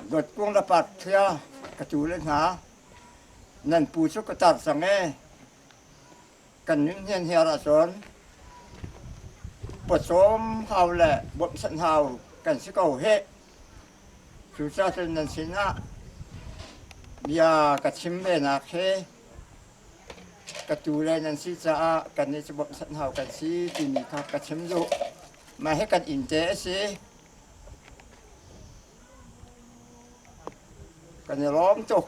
Dawtkung le Parthia ka tu le hna nan pu cu ka tar cang ee kan nun hian hiar ahcun pawcawm hau le bawmhsanh hau kan si ko heh cucacun nan sinah bia ka chim venak he ka tu le nan si caah kannih cu bawmhsanh hau kan si timi kha ka chim duh Mah hi kan inn te a si. Kan i lawm tuk.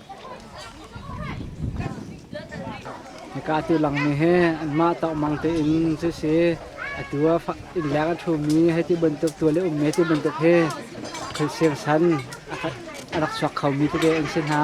Hika atu langmi hi anmah tawkmang tein cu si atu ah innleng a ṭhumi hei ti bantuk tual i ummi ti bantuk hi thil sirsan a rak chuak khomi tete an si hna.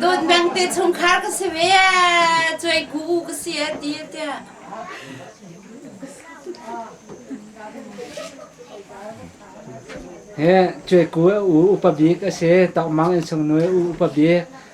Dawt bang te chungkhar ka si ve cuai ku ka si a ti te he cuai ku u upa bik a si tokmang in sung nu u upa bik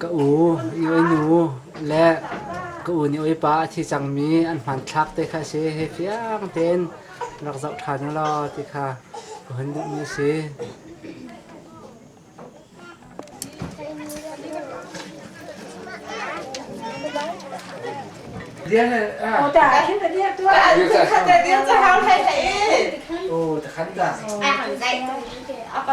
Ka u, i oi nu le ka u nih oipa a thi cangmi an hmanthlak te kha a si. Hi fiang tein rak zoh ṭhan u law ti kha ka hun duhmi a si. Oh ta, hin ta dia tu. Khan ta dia cha hau thai thai. Oh, ta khan ta. Ai hon dai. Apa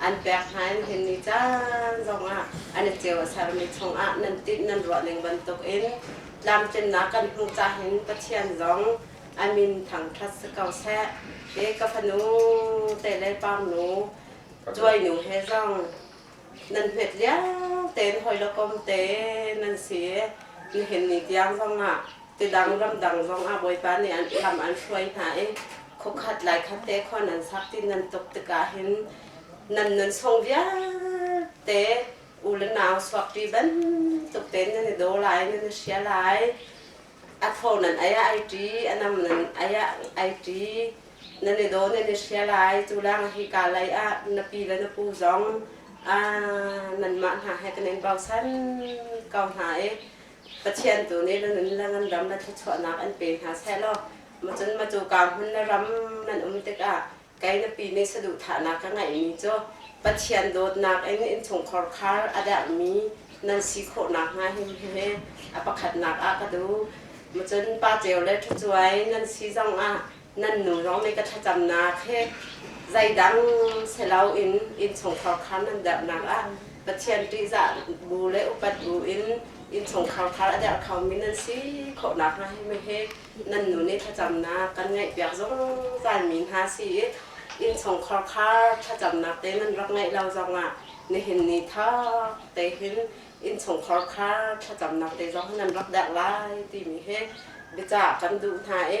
an pek hna in hin ni caan zongah an i ceu a sermi chungah nan tinh nan ruah ning bantuk in tlamtlinnak kan hmu cahin Pathian zong a min thangṭhat si ko seh. Hi ka fanu te le parnu cuainu he zong nan hmet lio tein hawi le kom te nan si. Nihin ni tiang zongah Tidang ramdang zong ah Bawipa nih an hram an hruai hna i khuakhat laikhat te khua nan sak ti nan tuk tikah hin nan nunsung vialte u le nau suakpi bantuk tein nan i do lai, nan i sia lai. A tho nan aya ai ṭi, a nam nan aya ai ṭi, nan i do nan i sia lai. Cu lawng hi ka lei ah na pi le na pu zong nanmah hna he kan in bausan ko hna i Pathian tu nih na nunlang an ram na thluachuahnak an pe hna seh law macun macu kaa hmun na ram nan um tikah kei na pi nih saduhthahnak ka ngeihmi cu Pathian dawtnak in innchungkhar khar a derhmi nan si khawh nakhnga him he a pakhatnak ah ka duh. Macun pa ceu le ṭhucuai nan si zongah nan nunrawng nih ka thlacamnak he zeidang si loin innchungkhar khar nan derhnak ah Pathian ṭihzah bu le upat bu in innchungkhar khar a derh khomi nan si khawh nakhnga himi he nan nun i thlacamnak kan ngaihpiak zungzalmi hna si i innchungkhar khar thlacamnak te nan rak ngeih lo zongah nihin ni thap te hin innchungkhar khar thlacamnak te zong nan rak derh lai timi he biacah kan duh hna i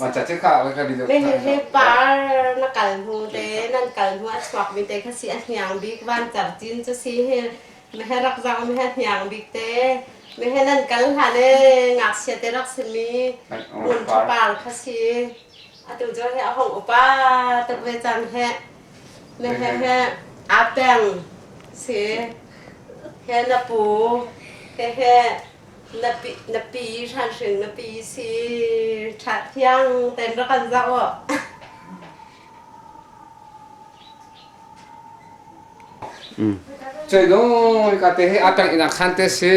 Macah cu kha kan ni deuh. He he he par na kal hnu te nan kal hnu a chuak bi te kha si a hniang bik van car cin chu si he me he rak zang me he hniang bik te me he nan kal hlan e ngak sia te rak sin mi un thu par kha si atu jo he a hong upa tak ve chan he me he he a peng si he na pu he he na pi na pi hranhring na pi si ṭha thiang ten rak kan zah u Cei dong ka te he atang ina khan te si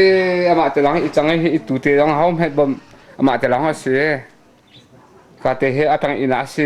ama te lang i chang hi i tu te dong hau met bom ama te lang ha si ka te he atang ina si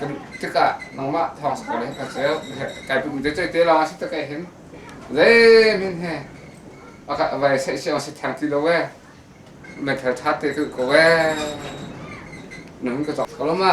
kan tikah nangmah thawng sak le kan ceu kai pum te te lawng si tak hin zei min he aka vai sai si si thang ti lo we men thal tha te ko ko we nun ka to ko ma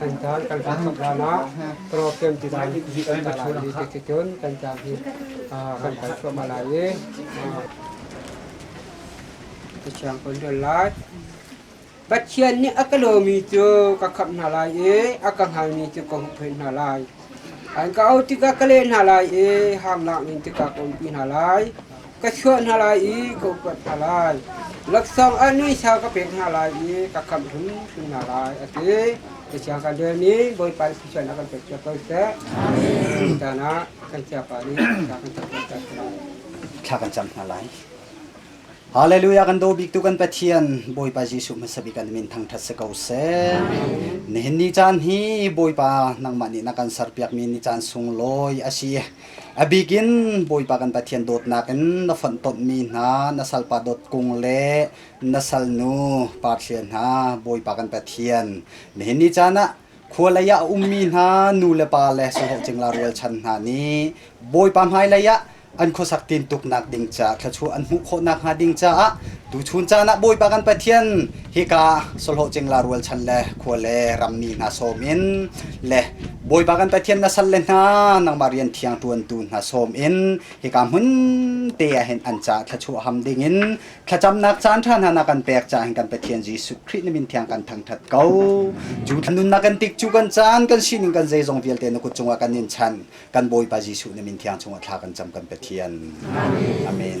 Kan caan kan kaa chap hlan ah program design kan ka ṭhawn dih tik cun kan caan hi kan kal thluahmah lai i ka thiang kun dun lai Pathian nih a ka lomi cu ka khamh hna lai i a ka hngalmi cu ka huhphenh hna lai an ka auh tikah ka leh hna lai i hanglang in tikah ka umpi hna lai ka chuah hna lai i ka upat hna lai. Laksawng ah nuisa ka pek hna lai i ka khamh hrimhrim hna lai, a ti. Tiah kan rel i Bawipa i thluachuah na kan pek cio ko seh. Tutan ah kan chiapa nih thla kan cam ko seh lai. Thla kan cam hna lai. Hallelujah kan daw biktu kan Pathian Bawipa Jesuh hmasabik kan min thangthat si ko seh. Nihin ni caan hi Bawipa nangmah nih na kan serpiakmi ni caan sunglawi asi. Abik in Bawipa kan Pathian dawtnak in na fonh tonmi hna na salpa dawt kung le na salnu parthlia hna Bawipa kan Pathian nihin ni caan ah khua lei ah a ummi hna nu le pa le sawhlawh cingla rialchan hna nih Bawipa hmailei ah an khuasak tin tuk nak ding caah thluachuah an hmuh khawh nak hnga ding caah tuchun caan ah Bawipa kan Pathian Hika sawhlawhcingla rualchan le khua le rammi hna sawm in le Bawipa kan Pathian na salle hna nangmah rian thiang ṭuantu hna sawm in hika hmun te ah hin an ca thluachuaham dingin thlacamnak caan ṭha hna na kan pek ca hin kan Pathian Jesuh Khrih na min thiang kan thangṭhat ko. Cu nunnak kan tik cu kan caan kan sining kan zeizong vialte na kut cungah kan in chan kan Bawipa Jesuh na min thiang cungah thla kan cam kan Pathian. Amen.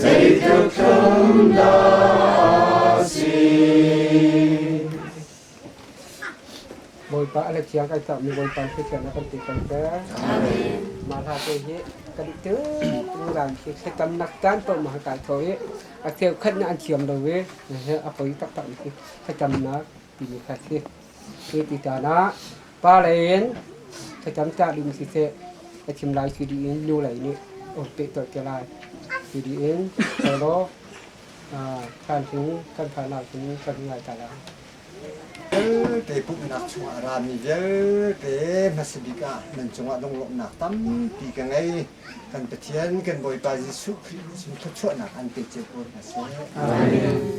Zeithil thum dah si? Bawipa a le thiang kan cakmi Bawipa Pathian a kan tihterter. Mah hla te hi kan i tung ran khi thlitamnak caan paoh ma kai tho i a theo khat na an thiam lo i a poi taktak mi khi thlitamnak timi kha khi hi ti tan ah Pa lei in thlacam cah ding siseh, a thim lai si dih in nu lei nih um peh tuah te lai si dih in law kan hling kan fanau hin kan ngai ta lai. Vialte pumhnak chungah rami vialte hmasabik ah nan cungah lunglawmhnak tampi ka ngei. Kan Pathian, kan Bawipa Jesuh Khrih sin thluachuahnak an pe cio ko hna seh. Amen.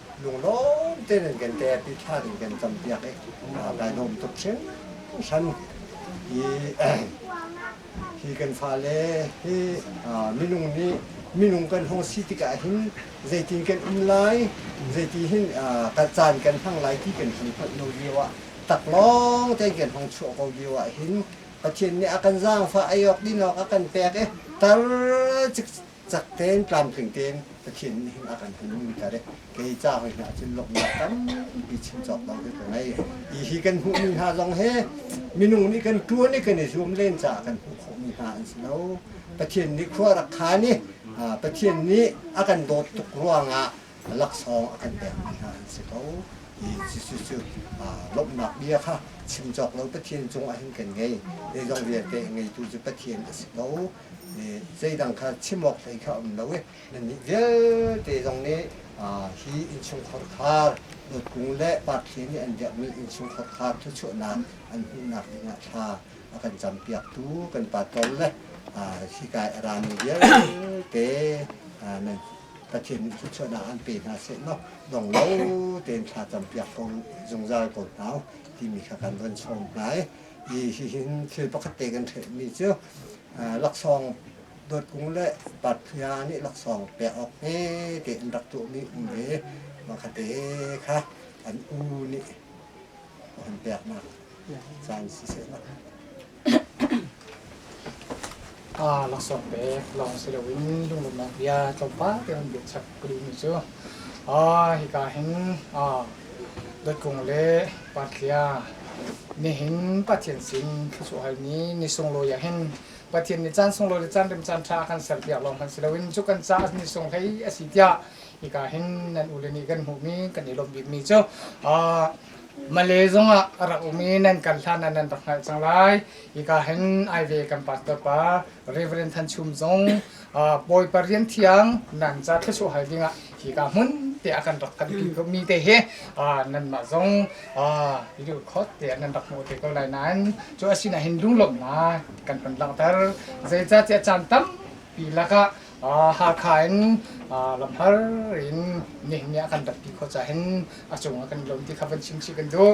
lunglawm tein in kan tet i thlan in kan campiak i a kan um tuk hringhran i hi kan fale hi minung nih minung kan hong si tikah hin zeitin kan um lai zeiti hin kan caan kan hmang lai ti kan hun hngalh lo lio ah taklawng tein kan hong chuah ko lio ah hin Pathian nih a kan zaangfah ei awk din awk a kan pek i tar Cak tein tlamtling tein Pathian nih hin a kan hun umter i kei ca hoi hna cun lawmhnak tampi chim cawk bang cu ka ngei. Hi hi kan hmuhmi hna zong hi minung nih kan ṭuan i kan i zuam len caah kan hmuh khawhmi hna an si lo. Pathian nih khua a rak khan i Pathian nih a kan dawt tuk ruangah laksawng a kan pekmi hna an si ko. Hi Jesuh cu lawmhnak bia kha chim cawk lo Pathian cungah hin kan ngei. Zeizong vialte ngeitu cu Pathian a si ko. zeidang kha chim awk hlei kha a um lo i nannih vialte zong nih hi innchungkhar khar nutkung le parthli nih an biakmi innchungkhar khar thluachuahnak an hmuhnak dingah thla a kan campiaktu kan patrol le hikai a rami vialte nan Pathian nih thluachuahnak an pe hna seh law dong lo tein thla campiak ko zungzal ko hna timi kha kan van chawm hna i hihin thil pakhat te kan ṭhehmi cu laksawng dawt kung le patphia nih laksawng pek awk hmete an rak tuahmi um ve mahkate kha an u nih an peknak caan siseh aa laksawng pek lawng si loin lunglawmhnak bia tlawmpal te an biachak ka duhmi cu aa hika hin aa dotkung le patlia nihin pathian sin thlusuah halmi ni sunglawi ah hin pathian nih caan sunglawi le caan rem caan ṭha kan ser piak lawng hmanh si loin cu kan caah ni sung hlei a si tiah hika hin nan ule nih kan hmuhmi kan i lawmh bikmi cu aa Malay zong ah a rak um i nan kan hlan ah nan rak hngalh cang lai Hika hin ai ve kan pastor pa Reverend Than Chum zong Bawi Parian Thiang nan ca thlusuh hal dingah hika hmun te a kan rak phan ti ko mi te hi nan mah zong ilu khot te nan rak hmu te ko lai nan cu asina hin lunglawmh na kan kan langhter zeica ti a caan tampi lakah Hakha in lamhar in nihni a kan rat ti kho ca hin a cung a kan lawm ti kha van chim si kan duh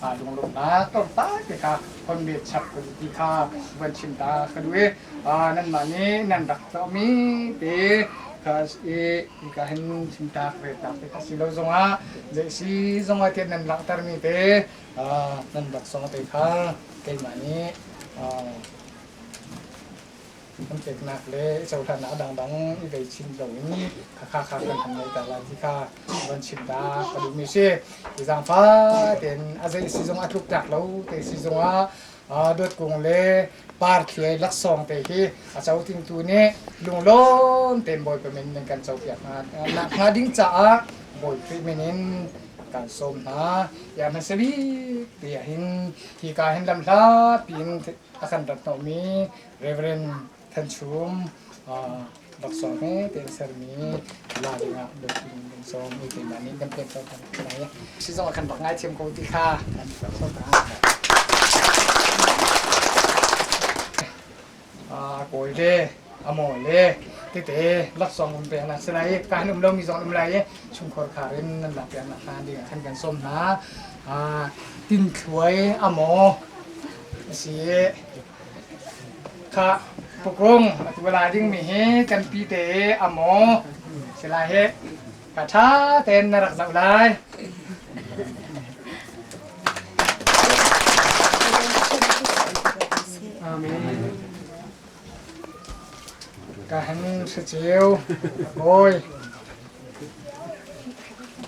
Mah lunglawmhnak tlawmpal tikah honneh chap kan ti kha van chim ta ka duh i nanmah nih nan rak tuahmi te ka i ka hin chimtaak ve taak te a si lo zongah zeisi zongah tiah nan langhtermi te nan rak song te kha keimah nih Hmunpeknak le cohlannak a dangdang i vei chim loin khakha kha kan han ngaihter lai ti kha van chim dah ka duhmi si. Hi zaangfah tein a zei si zong a tluktak lo te si zongah dawt kung le parthiai laksawng te hi a co tingtu nih lunglawm tein bawi pemin nan kan copiak hna nak hna ding caah bawi Khrih min in kan sawm hna ya man se bik ti hin hi ka hin lam hla pi in a kan rat nomi Rev. Thanchung laksawng hmete in sermi la dingah biapi in kan sawm i keimah nih kan pek ko lai i si zong kan rak ngaithiam ko ti kha kan so ta kawi le amaw le tete laksawng kan pek na si lai i kan um lomi zong um lai i chungkhor khar in nan lak pian hlan dingah kan kan sawm hna tin thluai amaw si Kha tukrung atuala dingmi hi kanpi te a maw si lai hi ka ṭha tein na rak zoh lai. Amen. Ka han si ceu, a bawi.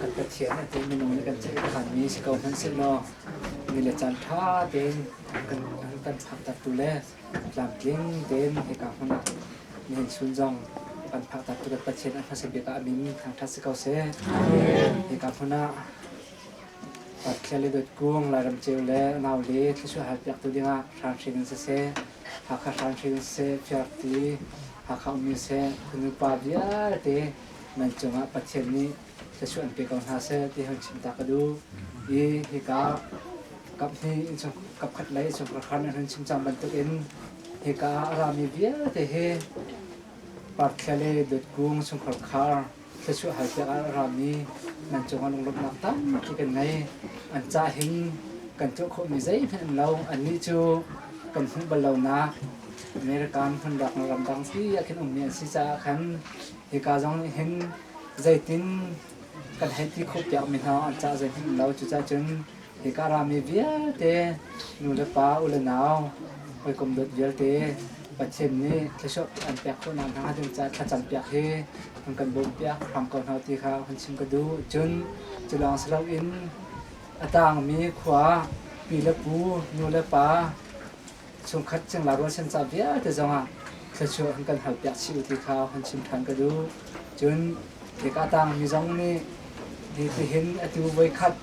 kan Pathian a ti minung nih kan ceih a hanmi si ko hmanhsehlaw mi le caan ṭha tein kan kan phaktaktu le tlamtling tein hika hmun ah mi nunchun zong kan phaktaktu kan Pathian a hmasa bik ah a min thangṭhat si ko seh. Hika hmun ah Pathian le dawt kung Lairam ceu le nau le thlusuah hal piaktu dingah hranhring in siseh, Hakha hranhring in siseh, Fiarti, Hakha ummi siseh, kunu pa vialte nan cungah Pathian nih thluachuah an pe ko hna seh ti han chim ta ka duh. I hika kaphnih in chung kapkhat lei chung karkhar nan hun chim cang bantukin hika a rami vialte he parthlia le dawtkung chungkhar khar thluachuah hal piak ah a rami nan cungah lunglawmhnak tampi kan ngei an ca hin kan tuah khawhmi zeihmanh an lo annih cu kan hmuh bal lonak American hmun rak ramdang ti ah khin ummi an si caah khan Hika zong nih hin zeitin kan hei ti khawhpiakmi hna an cah zeihmanh lo. Cucaah cun hika rami vialte nu le pa, u le nau, hawikom dawt vialte Pathian nih thluachuah an pek khawhnak hna ding caah thlacam piak hi an kan bawmpiak hram ko hna ti kha hun chim ka duh. Cun cu lawng si loin a tangmi khua pi le pu, nu le pa, chungkhat cingla rualchan ca vialte zongah thluachuah an kan halpiak chih u ti kha hun chim ṭhan ka duh. Cun hika tang mi zong nih nihin atu voikhat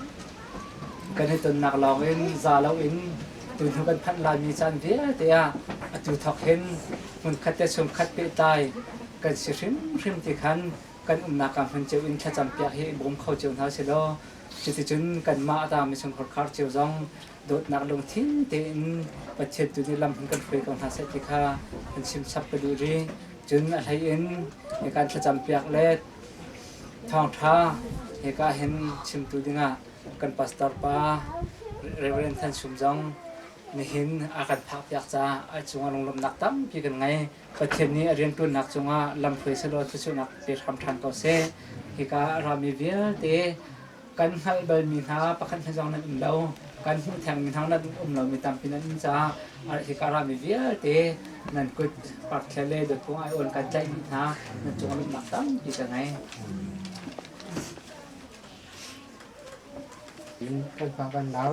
kan i tonnak lawng in za loin tunu kan phanh laimi caan vialte ah atu thawk hin hmunkhat le chungkhat pehtlai kan si hrimhrim ti khan kan umnak ah hmun cio in thlacam piak hi i bawm kho cio hna selaw cuticun kanmah tang mi chunghor khar cio zong dawtnak lungthin tein Pathian tu nih lam kan hruai ko hna seh ti kha kan chim chap ka duh rih. Cun a hlei in hikan thlacam piak le thawngtha hika hin chimtu dingah kan pastor pa Reverend Than Sum zong nihin a kan phak piak ca a cungah lunglawmnak tampi kan ngei Pathian nih a riantuannak cungah lam hruai selaw thlusunak pe hram than ko seh hika a rami vialte kan hngalh balmi hna pakhat hna zong nan um lo kan hmuh thengmi hna nan um lomi tampi nan um caah hika rami vialte nan kut parkthia le dotpung aiawn kan tlaihmi hna nan cung lungnak tampi ka ngei. In kan pa kan lau.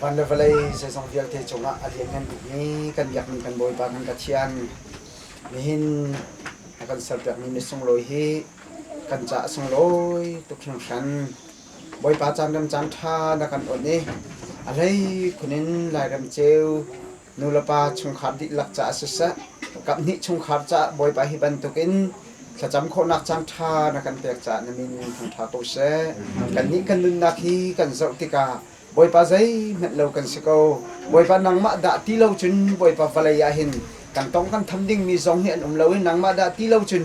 Van le vawlei zeizong vialte cungah a lianngan bikmi kan biakmi kan Bawipa kan Pathian, nihin a kan serpiakmi ni sunglawi hi kan ca a sunglawi tuk hringhran. Bawipa caan rem caan ṭha na kan awnh i a hlei khun in lairem ceu nulepa chungkhar dihlak caah siseh, kaphnih chungkhar caah Bawipa hi bantukin thlacam khawhnak caan ṭha na kan pek caah na min in hmang ṭha ko seh. Kannih kan nunnak hi kan zoh tikah Bawipa zeihmanh lo kan si ko. Bawipa nangmah dah ti lo cun Bawipa vawlei ah hin kan tong kan tham dingmi zong hi an um lo i nangmah dah ti lo cun